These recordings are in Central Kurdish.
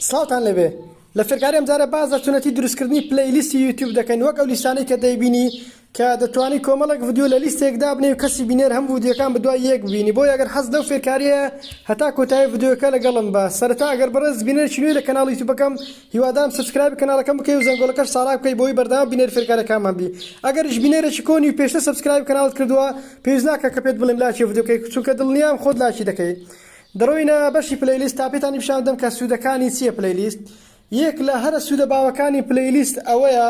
سڵاوتان لەبێ لە فێرکاری ئەمجارە باس لە چونەتی دروستکردنی پلەی لیستی یوتیوب دەکەین وەک ئەو لیستانەی کە دەیبینی کە دەتوانی کۆمەڵێک ڤیدیۆ لە لیستێک دابنێ و کەسی بینەر هەم ڤیدیۆکان بدوای یەک بینی بۆ یەگەر حەز لەو فێرکاریە هەتا کۆتایی ڤیدیۆکە لەگەڵم بە سەرەتا ئەگەر بەڕێز بینەرێکی نوێی لە کەناڵی یوتیوبەکەم هیوادارم سبسکرایبی کەناڵەکەم بکەی و زەنگۆڵەکەش ساڵاک بکەی بۆی بەردەوام بینەری فێرکارەکانمان بی ئەگەریش بینەرێکی کۆنی و پێشتر سبسکرایبی کەناڵت کردووە پێویست ناکە کە پێت بڵێم لاکی ڤیدیۆکەی چونکە دڵنیام خۆت لاکی دەکەی دەڕۆینە بەشی پلەیلیست تا پێتانی پیشان بدەم کە سوودەکانی چیە پلەیلیست یەک لە هەرە سوودە باوەکانی پلەیلیست ئەوەیە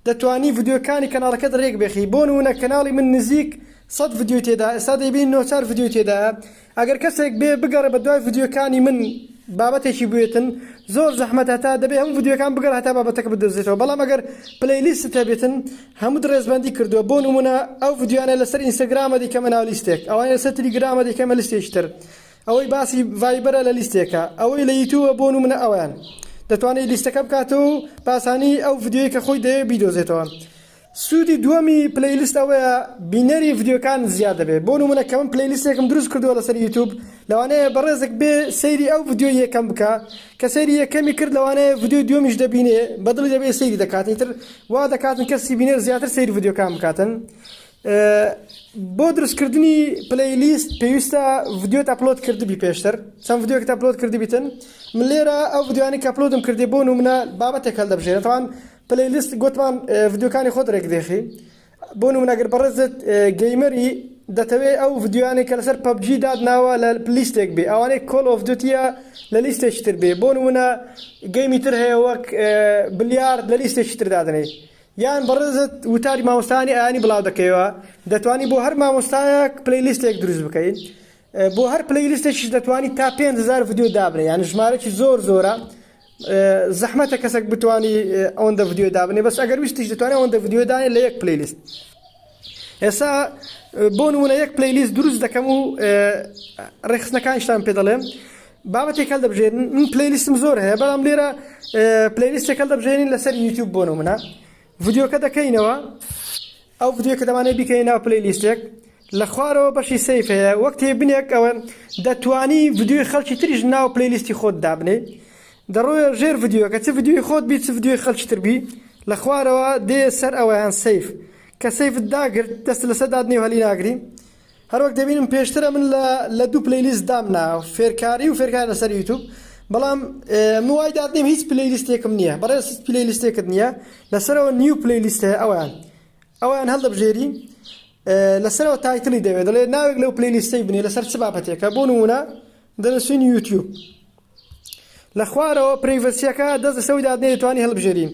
دەتوانی ڤیدیۆکانی کەناڵەکەت رێک بێخی بۆ نموونە کەناڵی من نزیک سەد ڤیدیۆی تێدا ئێستا دەیبینی نۆ چار ڤیدیۆی تێدایە ئەگەر کەسێک بێ بگەڕێ بە دوای ڤیدیۆکانی من بابەتێکی بوێتن زۆر زەحمەتە تا دەبێ هەموو ڤیدیۆکان بگەڕێ هەتا بابەتەکە بدۆزێتەوە بەڵام ئەگەر پلەیلیستت هەبێتن هەموت ڕێزبەندی کردوە بۆ نمونە ئەو ڤیدیۆیانە لەسەر ئینستاگرامە دەیکەمە ناو لیستێک ئەوانەی لەسەر تلیگرامە دەیکەمە لیستێکی تر ئەوەی باسی ڤایبەرە لە لیستێکە ئەوەی لە یوتوبە بۆ نمونە ئەویان دەتوانێت لیستەکە بکاتەوە و باسانی ئەو ڤیدیۆی کە خۆی دەیە بیدۆزێتەوە سوودی دووەمی پلەیلیست ئەوەیە بینەری ڤیدیۆکان زیاد دەبێت بۆ نمونە کە من پلەیلیستێکم دروست کردووە لەسەر یوتوب لەوانەیە بەڕێزێک بێ سەیری ئەو ڤیدیۆی یەکەم بکە کە سەیری یەکەمی کرد لەوانەیە ڤیدیۆی دووەمیش دەبینێ بە دڵی دەبێ سەیری دەکات ئیتر وا دەکاتن کەسی بینەر زیاتر سەیری ڤیدیۆکان بکاتن بۆ دروستکردنی پلەی لیست پێویستە ڤیدیۆت ئەپلۆد کردبی پێشتر چەند ڤیدیۆکە ئەپلۆد کردبیتن من لێرە ئەو ڤیدیوانی کە ئەپلۆدم کردی بۆ نمونە بابەتێک هەڵدەبژێنێتوان پلەی لیست گوتمان ڤیدیۆکانی خۆت رێک دێخی بۆ نمونە گەر بەڕێزت گەیمەری دەتەوێ ئەو ڤیدیۆیانەی کە لەسەر پەبجی دادناوە لە لیستێک بێ ئەوانەی کۆل ئۆف دوتیە لە لیستێکی تر بێ بۆ نمونە گەیمی تر هەیە وەک بلیارد لە لیستێکی تر دادنێ یان بەڕێزت وتاری مامۆستانی ئاینی بڵاو دەکەیەوە دەتوانی بۆ هەر مامۆستایەک پلی لیستێک دروست بکەین بۆ هەر پلی لیستێکیش دەتوانی تا 5هزار ڤیدیۆ دابنێ یان ژمارەی زۆر زۆرە زەحمەتە کەسەک بتانی ئەوەندە ڤیددیو دابنێ بەس ئەگەر ویستیش دەتوانێت ئەوەندە ڤیددیو داێ لە یەک پلیلیست ئێسا بۆ نمونە یەک پلیلیست دروست دەکەم و ڕێخستنەکانشتان پێ دەڵێم بابەتێک هەل دەبژێن من پلیلیستم زۆر هەیە بەڵام لێرە پلیلیستێک هەل دەبژێنین لەسەر یوتیوب بۆ نمونە ڤیدیۆکە دەکەینەوە ئەو ڤیدیۆ کە دەمانێت بیکەین ناو پلی لیستێک لە خوارەوە بەشی سیف هەیە وەک تێبنێک ئەوە دەتوانی ڤیدیۆی خەڵکی تریش ناو پلی لیستی خۆت دابنێ دەڕۆیە ژێر ڤیدیۆکە چ ڤیدیۆی خۆت بیت چ ڤیدیۆی خەڵکی تربی لە خوارەوە دێ سەر ئەوەیان سیف کە سیفت داگرت دەست لەسەر دادنێ و هەلی ناگری هەروەک دەبینم پێشتر ئەمن لە لە دوو پلەیلیست دامنا فێرکاری و فێرکار لەسەر یوتوب بەڵام من وای دادنیم هیچ پلەیلیستێکم نییە بەڕێز هیچ پلەیلیستێکت نییە لەسەرەوە نیو پلەیلیست هەیە ئەویان ئەویان هەڵدەبژێری لەسەرەوە تایتلی دەوێت دەڵێ ناوێک لەو پلەیلیستەی بنێ لەسەر چ بابەتێکە بۆ نمونە دەرەچووی یوتیوب لە خوارەوە پرەیڤەسیەکە دەست لەسەر وی دادنێی دەتوانی هەڵبژێری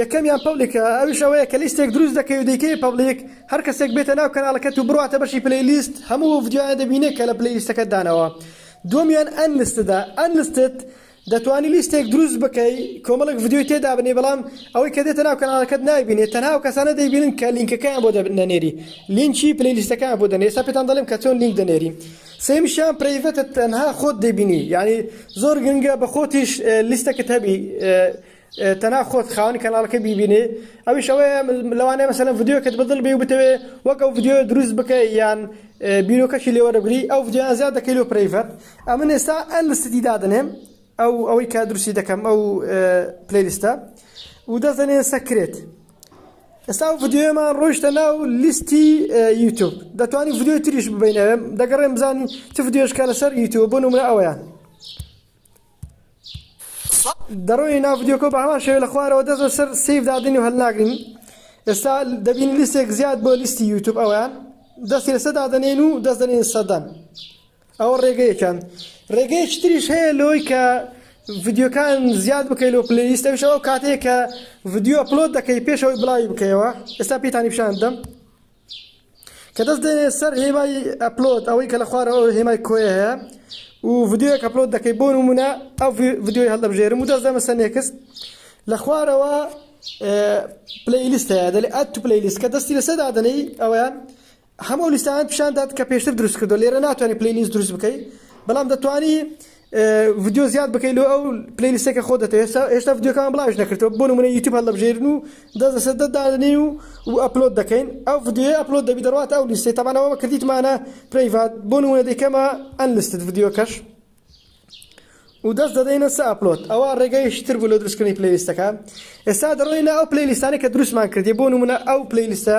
یەکەمیان پەبلیکە ئەویش ئەوەیە کە لیستێک دروست دەکەی و دەیکەی پەبلیک هەر کەسێک بێتە ناو کەناڵەکەت و بڕواتە بەشی پلەی لیست هەموو ئەو ڤیدیۆیانە دەبینێ کە لە پلەی لیستەکەت دانەوە دووەمیان ئەنلیستدە Unlisted دەتوانی لیستێک دروست بکەی کۆمەڵێک ڤیدیۆی تێدابنێی بەڵام ئەوەی کە دێتە ناو کەناڵەکەت نایبینێت تەنها ئەو کەسانە دەیبینن کە لینکەکەیان بۆ دەنێری لینکی پلەی لیستەکەیان بۆ دەنێ ئێستا پێتان دەڵێم کە چۆن لینک دەنێری سێمیشیان پرەیڤەتە تەنها خۆت دەیبینی یعنی زۆر گرنگە بە خۆتیش لیستەکەت هەبی تەنها خۆت خاوەنی کەناڵەکە بیبینێ ئەویش ئەوەیە لەوانەیە مەسەلەن ڤیدیۆکەت بەدڵ بێ و بتەوێ وەک ئەو ڤیدیۆ دروست بکەی یان بیرۆکەشی لێوەرەگری ئەو ڤیدیۆیان زیاد دەکەی لۆ پرەیڤەت ئەمن ئێستا ئەنستتی دادەنێم ئەو ئەوەی کە دروستی دەکەم ئەو پلەیلیستە و دەزەنێ سەکرێت ئێستا ئەو ڤیدیۆمان ڕۆیشتە ناو لیستی یوتوب دەتوانانی ڤیدیۆ تریش ببینەوێ دەگەڕێم بزانین چ ڤیدیۆشکە لەسەر یوتوب بۆ نمرە ئەوەیان دەڕۆی ناو ڤیدیۆکە بە هەمان شێوە لە خوارەوە دەست بەسەر سیف دادین و هەلناگرین ئێستا دەبین لیستێک زیاد بۆ لیستی یوتوب ئەویان دەستی لەسە دادنێن و دەست دەنێن سەدان ئەوە ڕێگەیەکان ڕێگەیەکی تریش هەیە لۆی کە ڤیددیوکان زیاد بکەیت لە پلیلیست ئەوش ئەو کاتێک کە ڤیددیو ئەپلۆد دەکەی پێشەوەی بڵاوی بکەیەوە ئێستا پێتانی پیشان دەم کە دەست دێنێ سەر هێمای ئەپلۆد ئەوەی کە لە خوارەوە هێمای کۆیە هەیە و ڤیدیۆیەک ئەپلۆد دەکەی بۆ نمونە ئەو ڤیدیۆی هەڵدەبژێرم و دەست دەمە سەر نێکست لە خوارەوە پلیلیست هەیە دەلێ ئەت تو پلیلیست کە دەستی لەسەر دادەنەی ئەوەیان هەموو لیستان پیشان داد کە پێشتر دروست کردو لێرە ناتوانانی پلیلیست دروست بکەی بەڵام دەتوانی ڤیدیۆ زیاد بکەی لۆ ئەو پلەی لیستەی کە خۆت دەتەوێت هێشتا هێشتا ڤیدیۆکان بڵاویش نەکردووە بۆ نموونە یوتیوب هەڵدەبژێرین و دەست لەسەر دەست دادەنێین و و ئەپلۆد دەکەین ئەو ڤیدیۆیە ئەپلۆد دەبی دەڕواتە ئەو لیستەی تەبعەن ئەوە کردیتمانە پرەیڤات بۆ نموونە دەیکەمە ئەنلیستد ڤیدیۆکەش و دەست دەدەینە سە ئەپلۆد ئەوە ڕێگەیشی تر بوو لە دروستکردنی پلەی لیستەکە ئێستا دەڕۆینە ئەو پلەی لیستانەی کە دروستمان کردی بۆ نموونە ئەو پلەی لیستە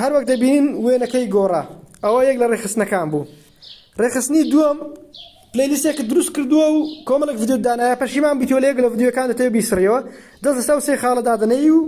هەر وەک دەبینین وێنەکەی گۆڕا ئەوە یەک لە ڕێخستنەکان بوو ڕێخستنی دووەم پلیلیستێک دروست کردووە و کۆمەڵک ڤیددیو دانایە پەشیمان بیتۆ لەیەک لە ڤیددیوەکان دەتەوێت بیسڕیەوە دەست سا و سێ خاڵە دادنەی و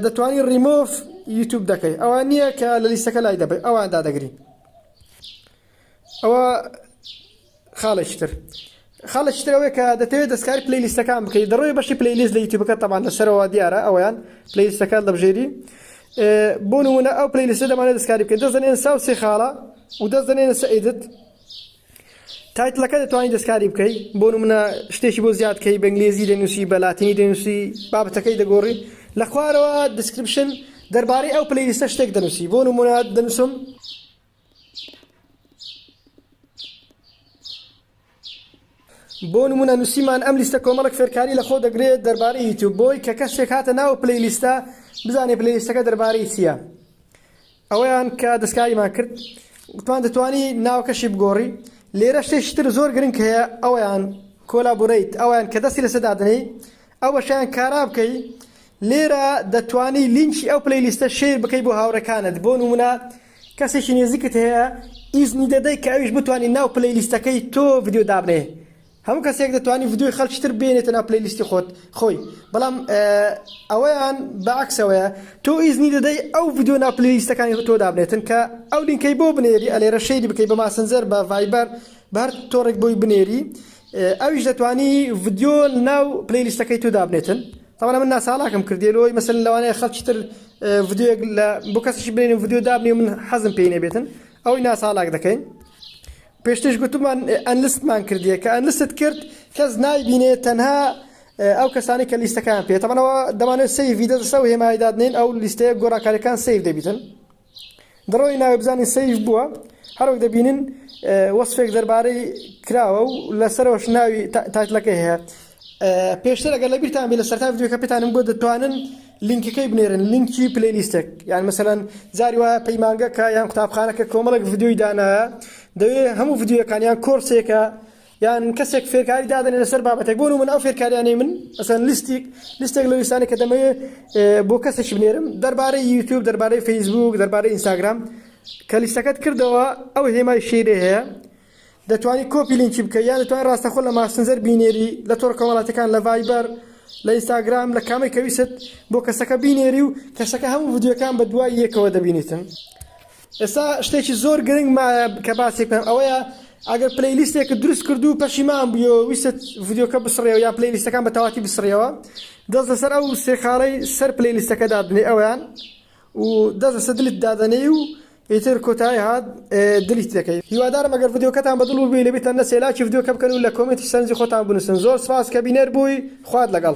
دەتوانی ڕیمۆف یوتوب دەکەی ئەوان نییە کە لە لیستەکە لای دەبێت ئەوان دادەگرین ئەوە خاڵێکی تر خاڵێکی تر ئەوەیە کە دەتەوێت دەستکاری پلی لیستەکان بکەیت دەڕۆی بەشی پلی لیست لە یوتیوبەکە تەمان لەسەرەوە دیارە ئەویان پلی لیستەکان لە بژێری بۆ نمونە ئەو پلی لیستە دەمانێت دەستکاری بکەیت دەست دەنێن ساو سێ خاڵە و دەست دەنێنە سەئیدت تایتلەکە دەتوانانی دەستکاری بکەیت بۆ نمونە شتێکی بۆ زیاد کەی بەنگلێزی دەنووسی بە لاتینی دەنووسی بابەتەکەی دەگۆڕی لە خوارەوە دیسکرپشن دەربارەی ئەو پلی لیستە شتێک دەنووسی بۆ نمونە دەنووسم بۆ نمونە نووسیمان ئەم لیستە کۆمەڵک فێرکاری لە خۆ دەگرێت دەربارەی یوتیوب بۆی کە کەسێک هاتە ناو پلی لیستە بزانێ پلی لیستەکە دەربارەی چییە ئەوەیان کە دەستکاریمان کرد وتمان دەتوانی ناوکەشی بگۆڕی لێرە شتێکی تر زۆر گرنگ هەیە ئەویان کۆلابوریت ئەویان کە دەستی لەسە دادنەی ئەوەشیان کارا بکەی لێرە دەتوانی لینکی ئەو پلی لیستە شیر بکەی بۆ هاوڕەکانت بۆ نمونە کەسێکی نێزیکت هەیە ئیزنی دەدەی کە ئەویش بتوانی ناو پلەی لیستەکەی تۆ ڤیدیۆ دابنێ هەموو کەسێک دەتوانی ڤیدیۆی خەڵکی تر بێنێتە ناو پلەی لیستی خۆت خۆی بەڵام ئەوەیان بەعکسەوەیە تۆ ئیزنی دەدەی ئەو ڤیدیۆ ناو پلەی لیستەکانی تۆ دابنێتن کە ئەو لینکەی بۆ بنێری ئەلێرە شەیری بکەی بە ماسنجەر بە ڤایبەر بەر تۆڕێک بۆی بنێری ئەویش دەتوانی ڤیدیۆ ناو پلەی لیستەکەی تۆ دابنێتن تەوانا من ناچالاکم کردیە لۆی مەسەلەن لەوانەیە خەڵکی تر ڤیدیۆیەک لە بۆ کەسیشی بێنین ڤیدیۆ دابنێ من حەزم پێی نەبێتن ئەوەی ناچالاک دەکەین پێشتش گوتمان ئەنلستمان کردیە کە ئەنلست کرد کەس نایبینێ تەنها ئەو کەسانی کە لیستەکان پێێتەمەەوە دەمانێت سەی ڤیدە دەسەوە هێمایدادنین ئەو لیستەیە گۆڕانکاریەکان سیف دەبیتن دڕۆی ناوێ بزانین سەیف بووە هەروەک دەبینین وەسفێک دەربارەی کراوە و لەسەرەوەش ناوی تایتلەکەی هەیە پێشتر ئەگەر لە بیرتان بێ لە سەرتا ڤیدیۆکە پێتانم گوت دەتوانن لینکەکەی بنێرن لینکی پلیلیستێک یان مەسەەن جاری وایە پەیمانگەکە یان قوتابخانەکە کۆمەڵک ڤیددیوی دانایە دەوێ هەموو ڤیددیوەکانیان کۆرسێکە یان کەسێک فێرکاری دادەنێ لەسەر بابەتێک بۆ من ئەو فێرکاریانەی من ئەسەن لیستیک لیستێک لە لیستانی کە دەمەوێ بۆ کەسێکی بنێرم دەربارەی یوتوب دەربارەی فەیسبوک دەربارەی ئینستاگرام کە لیستەکەت کردەوە ئەو هێمای شیرێ هەیە دەتوانانی کۆپی لینکی بکە یان دەتوان ڕاستەخۆ لە ماسنجەر بینێری لە تۆڕ کۆمەڵاتەکان لە ڤایبەر لە ئینستاگرام لە کامەی کەویست بۆ کەسەکە بینێری و کەسەکە هەموو ڤیددیوەکان بە دوای یەکەوە دەبینیتن ئێستا شتێکی زۆر گرنگ مایە کە باسێک بکەم ئەوەیە ئەگەر پلەی لیستێکت دروست کرد و پەشیمان بوویەوە ویستت ڤیدیۆکە بسڕێەوە یا پلەی لیستەکان بە تەواتی بسڕیەوە دەست لەسەر ئەو سێ خاڵەی سەر پلەی لیستەکە دادنێ ئەویان و دەست لەسەر دلت دادەنێی و ئیتر کۆتایی هات دلیت دەکەی هیوادارم ئەگەر ڤیدیۆکەتان بەدڵ بووی لەبیتە نە سێلاکی ڤیدیۆکە بکەن و لە کۆمێنتی سەرنجی خۆتان بنووسن زۆر سپاس کە بینەر بووی خوات لەگەڵ